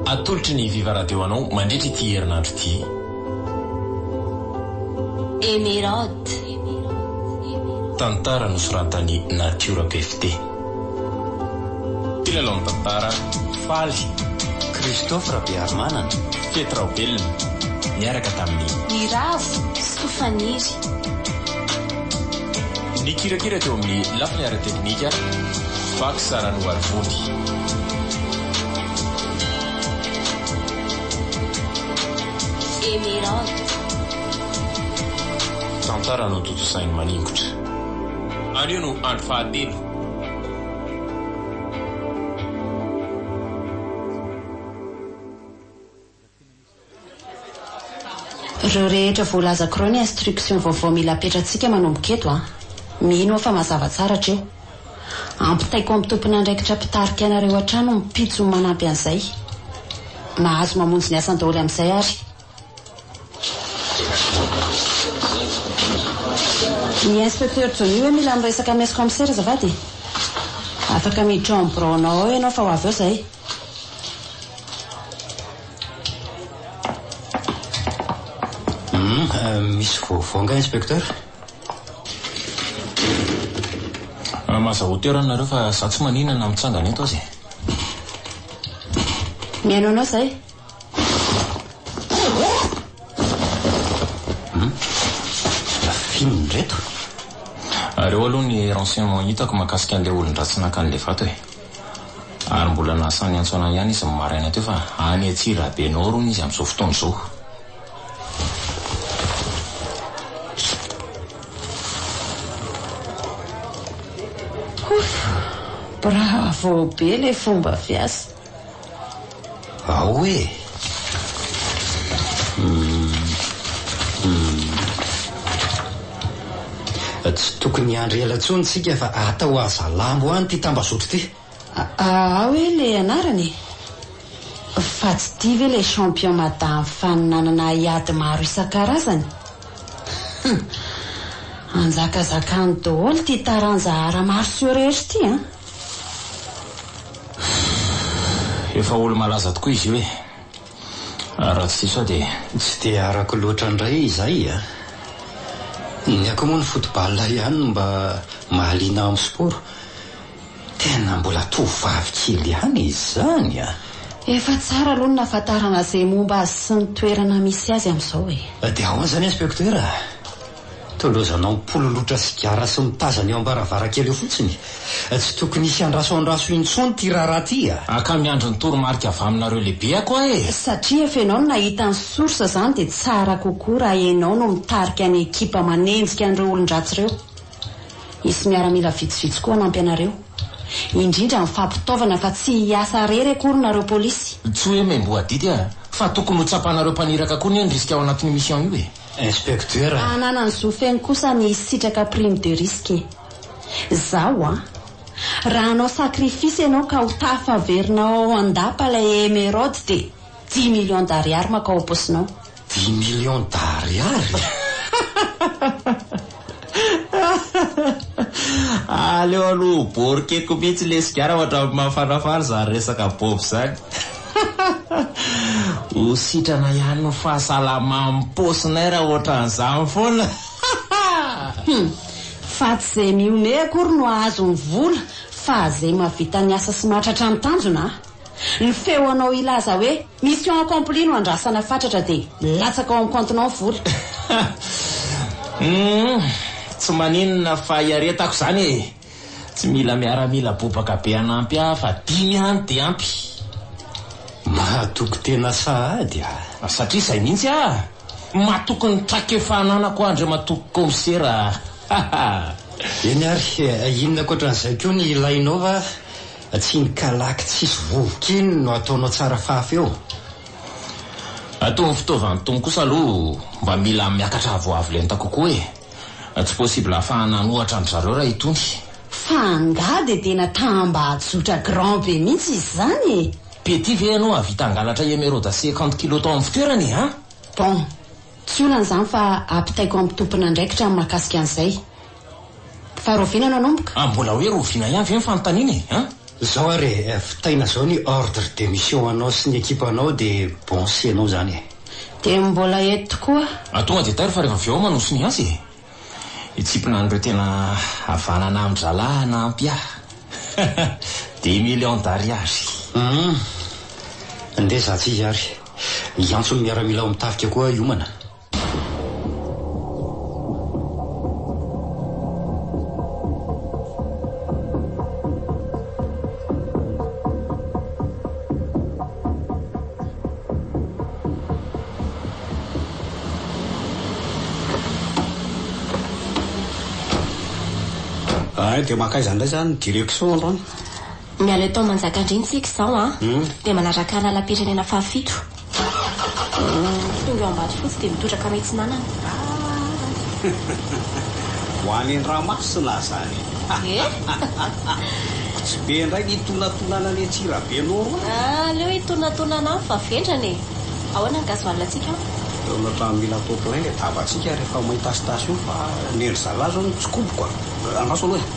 Atolotry ny Viva Radio anao mandritra ity herinandro ity. Emeraude. Tantara nosoratan'i Natiora PFT. Mpilalao ny tantara, Faly, Christophe Rabearimanana, Fety Raobelina, niaraka tamin'i. Ny Ravo soa faniry. Nikirakira teo amin'ny lafiny ara-teknika. Vaky tsara ny oharivony. Tantara notontosainy maningotra. Anio no andro fahatelo. Ireo rehetra voalazako ireo ny instructions vaovao mila apetratsika manomboka eto a! Mino aho fa mazava tsara hatreo. Ampitaiko amin'ny tompon'andraikitra mpitarika anareo hatrany ny pitsony manampy an'izay. Mahazo mamonjy ny asany daholo amin'izay ary. I Inspecteur Johnny hoe mila miresaka amin'ny Ex-Commissaire azafady e! Afaka miditra ao amin'ny biraonao ao ianao fa ho avy ao izahay. Misy vaovao angaha inspecteur? Maza hauteur any nareo fa za tsy manina na mitsangana eto aza e. Mihaino anao zay. Fininy reto. Areo aloha ny renseignements hitako makasika an'ilay olon-dratsy naka an'ilay vato e. Ary mbola nasa niantsoana ahy ihany izy ny maraina teo fa any Antsirabe Nord hono izy amin'izao fotoana izao. Ouff! Bravo be le fomba fiasa. Ao e! Tsy tokony hiandry ela intsony isika fa atao Hazalambo any ity tambazotro ity. Aa we le anarany e? Fa tsy tia ve le champion madame Fany nanana haiady maro isan-karazany? Hum! Anjakazakany daholo ity taranja ara-maso sy orera ity an! Fff efa olo malaza tokoa izy io e! Raha tsy diso aho dia. Tsy dia arako loatra ndray izay a! Ny akoho moa ny football ihany no mba mahaliana aho amin'ny sport. Tena mbola tovovavy kely ihany izany a! Efa tsara aloha ny nahafantarana izay momba azy sy ny toerana misy azy amin'izao e! Dia ahoana izany inspektera? Tondrozanao mipololotra sigara sy mitazana eo am-baravarankely eo fotsiny. Tsy tokony hisy andraso andraso intsony ity raharaha ity a! Aka miandry ny toromarika avy aminareo lehibe ako aho e! Satria efa enao no nahita ny source izany dia tsara kokoa raha enao no mitarika ny ekipa manenjika an'ireo olon-dratsy ireo. Hisy miaramila vitsivitsy koa hanampy anareo. Indrindra ny fampitaovana fa tsy hiasa irery akory nareo polisy. Tsy hoe membohadidy aho fa tokony ho tsapanareo mpaniraka koa anie ny risque ao anatin'io mission io e! Inspektera. Hananany zo feno kosa ny hisitraka prime de risque. Zaho an! Raha hanao sacrifice ianao ka ho tafaverina ao an-dapa ilay emeraude dia dix millions d'ariary makao am-paosinao. Dix millions d'ariary? Aleo aloha ho borkeko mihitsy le sigara hoatran'ny mahafanafana izany resaka bob izany. Ho sitrana ihany ny fahasalaman'ny paosinay raha hoatran'izany foana. Fa tsy izay mihomehy akory no hahazo ny vola fa izay mahavita ny asa sy mahatratra ny tanjona. Ny feonao hilaza hoe mission accomplie no andrasana fatratra dia latsaka ao amin'ny compte-nao ny vola. Humm tsy maninona fa hiaretako izany e! Tsy mila miaramila bobaka be hanampy ahy fa dimy ihany dia ampy. Mahatoky tena sahady ah. Satria izay mihitsy ah! Matoky ny trakefa ananako ah Andriamatoa Kaomisera ah! Eny ary, inona ankoatran'izay koa ny ilainao va? Tsiny kalaky tsisy vovoka iny no ataonao tsara fahafeo. Ataovy fitaovan'ny Tompo kosa aloha mba mila miakatra avoavo lenta kokoa e! Tsy possible hahafahana hanohatra an-dry zareo raha itony. Fa angaha dia tena ta-mba hajotra grand be mihitsy izy izany e! Petit ve ianao hahavita hangalatra emeraude cinquante kilos tao amin'ny fitoerany e! An! Bon, tsy olana izany fa ampitaiko amin'ny tompon'andraikitra ny mahakasika an'izay. Fa Rovina nanomboka? Ah mbola hoe Rovina ihany ve ny fanontaniana e? An? Zao ary e, vitaina zao ny ordre de mission anao sy ny ekipa anao de bon sy enao zany e. De mbola eto koa. Ah tonga de tairo fa refa avy eo aho manoso ny azy e. Hitsipina an'ireo tena havanana amin-dry zalahy hanampy ahy. Des millions d'ariary. Hum. Ndeha zah tsy izy ary. Hiantso ny miaramila ao amin'ny tafika koa aho hiomana. Ay dia makaiza indray izany ny direction androany? Miala eto Manjakandriana isika izao an, dia manaraka ny lalam-pirenena fahafito. Tonga eo Ambatofotsy dia mitotra ka mitsinanana ah. Ho any Andramasina aza any eh? Tsy be indray ny itonatonana any Antsirabe Noro any ah, Aleo hitonatonana any fa vendrana e Ahoana ny gasoil antsika an? Eo amin'ny ohatran'ny mila atao plein ilay tavantsika rehefa mahita stasio fa ny an-dry zalahy izao no tsikoboko a Andraso aloha e.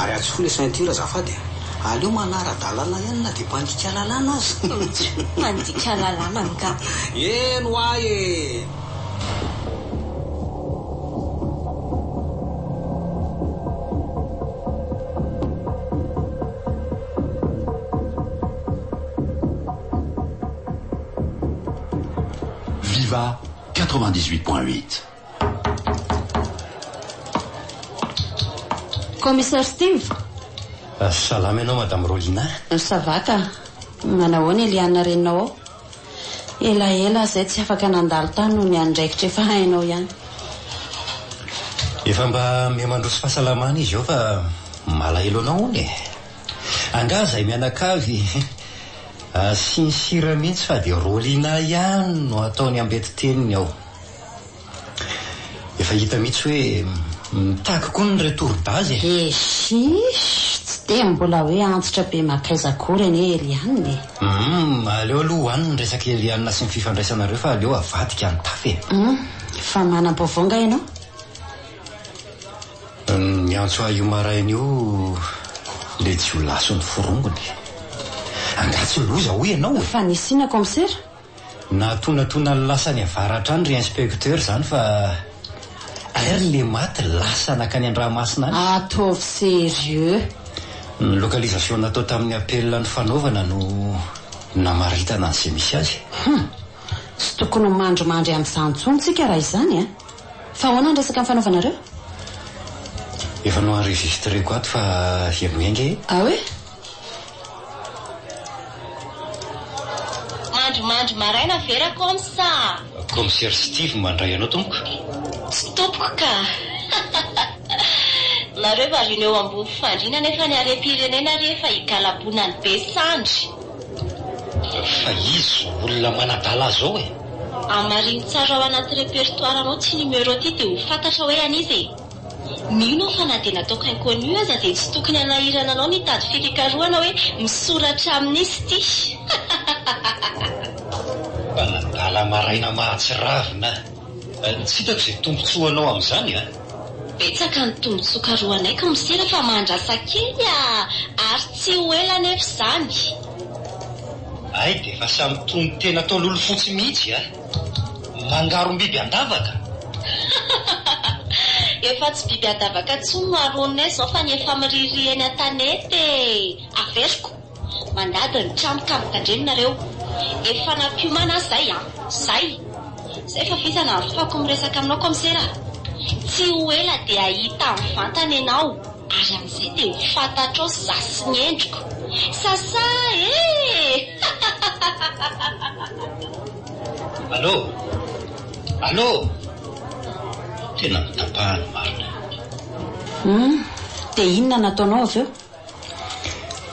Ary atsofoy le ceinture azafady e! Aleo manara-dalana ihany na dia mpandika lalàna aza! Tjo, mpandika lalàna angaha? Eny ho ahy e! Viva 98 point 8. Commissaire Steve. Salama ianao Madame Rolina. Ça va ka. Manahoana Eliana reninao ao? Elaela aho izay tsy afaka nandalo tany noho ny andraikitra efa hainao ihany. Efa mba miha mandroso fahasalamana izy eo fa malahelo anao hono e. Angaha izay mianakavy asiany sira mihitsy fa dia Rolina ihany no ataony ambeti-teniny ao. Efa hita mihitsy hoe mitaky koa ny retour base e! Eishish! Tsy dia mbola hoe antitra be makaiza akory anie Eliane e! Humm! Aleo aloha ho any ny resaka Eliane sy ny fifandraisanareo fa aleo avadika ny tafy e! Humm! Fa manam-baovao nga ianao? Niantso ahy io maraina io ilay jiolahy sy ny forongony. Angaha tsy loza hoy ianao e? Fanisiana kaomsera? Nahatonatona ny lasan'i Avara hatrany ry inspecteur izany fa airy ilay maty lasa nankany Andramasina any. Ataovy serieux. Ny localisation natao tamin'ny appel nifanaovana no namaritana an'izay misy azy. Humm! Tsy tokony ho mandrimandry an'izany intsony tsika raha izany an! Fa ahoana ny resaka nifanaovanareo? Efa no-enregistreko ato fa heno enga e! Ah oui? Mandry mandry maraina ve ra coms a! Comsir Steve mandray anao tompoko. Tsy tompoko ka! Nareo variana eo ambony fandriana nefa ny harem-pirenena re efa higalabonan'ny be sandry. Fa izy olona manadala azy ao e! Hamarino tsara ao anaty repertoire-nao ty numéro ty dia ho fantatra hoe an'iza e! Mino aho fa na dia nataoko inconnu aza dia tsy tokony hanahirana anao ny hitady fikakarohana hoe misoratra amin'iza ty! Mba nadala maraina mahatsiravina a! Tsy hitako izay tombontsoanao amin'izany a! Betsaka ny tombotsoa karohanay ka mosera fa mahandrasa kely a! Ary tsy ho ela anefa izany. Hay dia efa samy tony tena atao lolo fotsy mihitsy a! Mangarom-biby an-davaka! Efa tsy biby an-davaka intsony no aroanay izao fa ny efa miririry eny an-tanety e! Averiko. Mandady ny trano ka mitandremo nareo efa nampiomana aho zay an! zay! zay fa vita na afahako miresaka aminao kaomisera a! tsy ho ela dia hahita ny vantany ianao ary amin'izay dia ho fantatrao za sy ny endriko! sasa ee! Allô! Allô! Tena mitapahany marina io. Humm dia inona nataonao avy eo?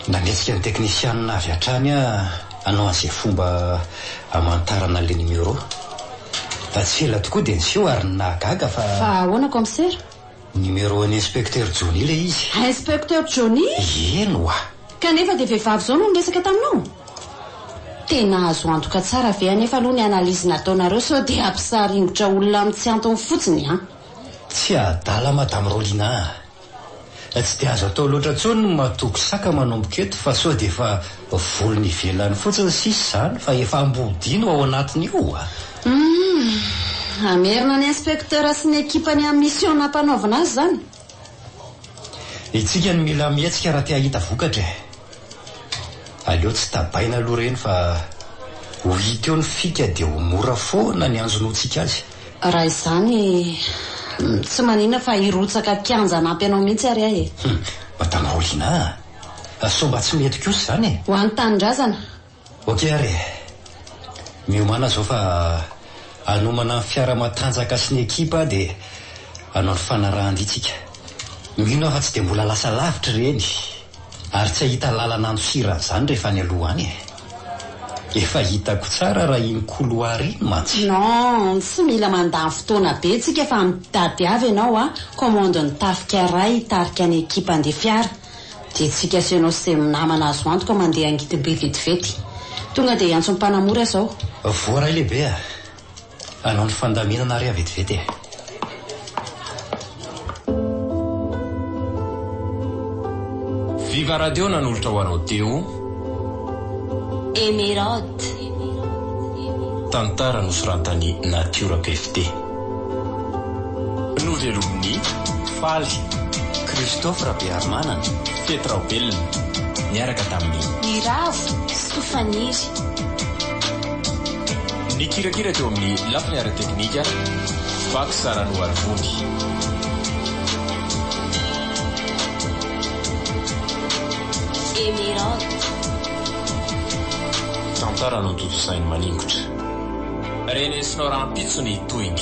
Nanetsika ny teknisianina avy hatrany aho hanao an'izay fomba hamantarana an'ilay numéro. Tsy ela tokoa dia niseho ary ny nahagaga fa. Fa ahoana Kaomisera? Numéro an'i Inspecteur Johnny ilay izy. Inspecteur Johnny? Eny oa! Kanefa dia vehivavy izao no niresaka taminao? Tena azo antoka tsara ve anefa aloha ny analyse nataonareo sao dia hampisaringotra olona amin'ny tsy antony fotsiny an! Tsy adala Madame Rolina a! Tsy dia azo atao loatra intsony ny matoky saka manomboka eto fa sao dia efa volony ivelany fotsiny sisa izany fa efa ambodiany ho ao anatiny io a! Humm! Hamerina ny inspecteur sy ny ekipany amin'ny mission nampanaovina azy izany? Isika no mila mihetsika raha te hahita vokatra e! Aleo tsy tabaina aloha ireny fa ho hita eo ny fika dia ho mora foana ny hanjonoantsika azy. Raha izany, tsy manina fa hirotsaka kianja hanampy anao mihitsy ary aho e! Hum, Madamaolina a! Sao mba tsy mety kosa izany e! Ho an'ny tanindrazana! Ok ary e! Miomàna izao fa hanomana ny fiara matanjaka sy ny ekipa aho dia hanao ny fanarahan-dia tsika. Mino aho fa tsy dia mbola lasa lavitra ireny! Ary tsy ahita lalana andosiran zany rehefa any aloha any eh. Efa hitako tsara raha iny couloir iny mantsy. Non, tsy mila mandany fotoana be tsika fa mitady avy ianao a commande ny tafika iray hitarika ny ekipa handeha fiara dia tsika sy ianao sy izay namana azo antoka mandeha hangidim-be vetivety. Tonga dia hiantso ny mpanamory aza aho. Voaray lehibe a! Anao ny fandaminana re vetivety e. Viva radio nanolotra ho anao Deo. Emeraude. Tantara nosoratan'i Natiora PFD. Novelomin'i, Faly, Christophe Rabearimanana, Fety Raobelina, niaraka tamin'i. Niravo sy Tofaniry. Nikirakira teo amin'ny lafiny ara-teknika, Vaky Sara Noharivony. Tantara notontosain'i Maningotra. Renesinao rahampitso ny tohiny.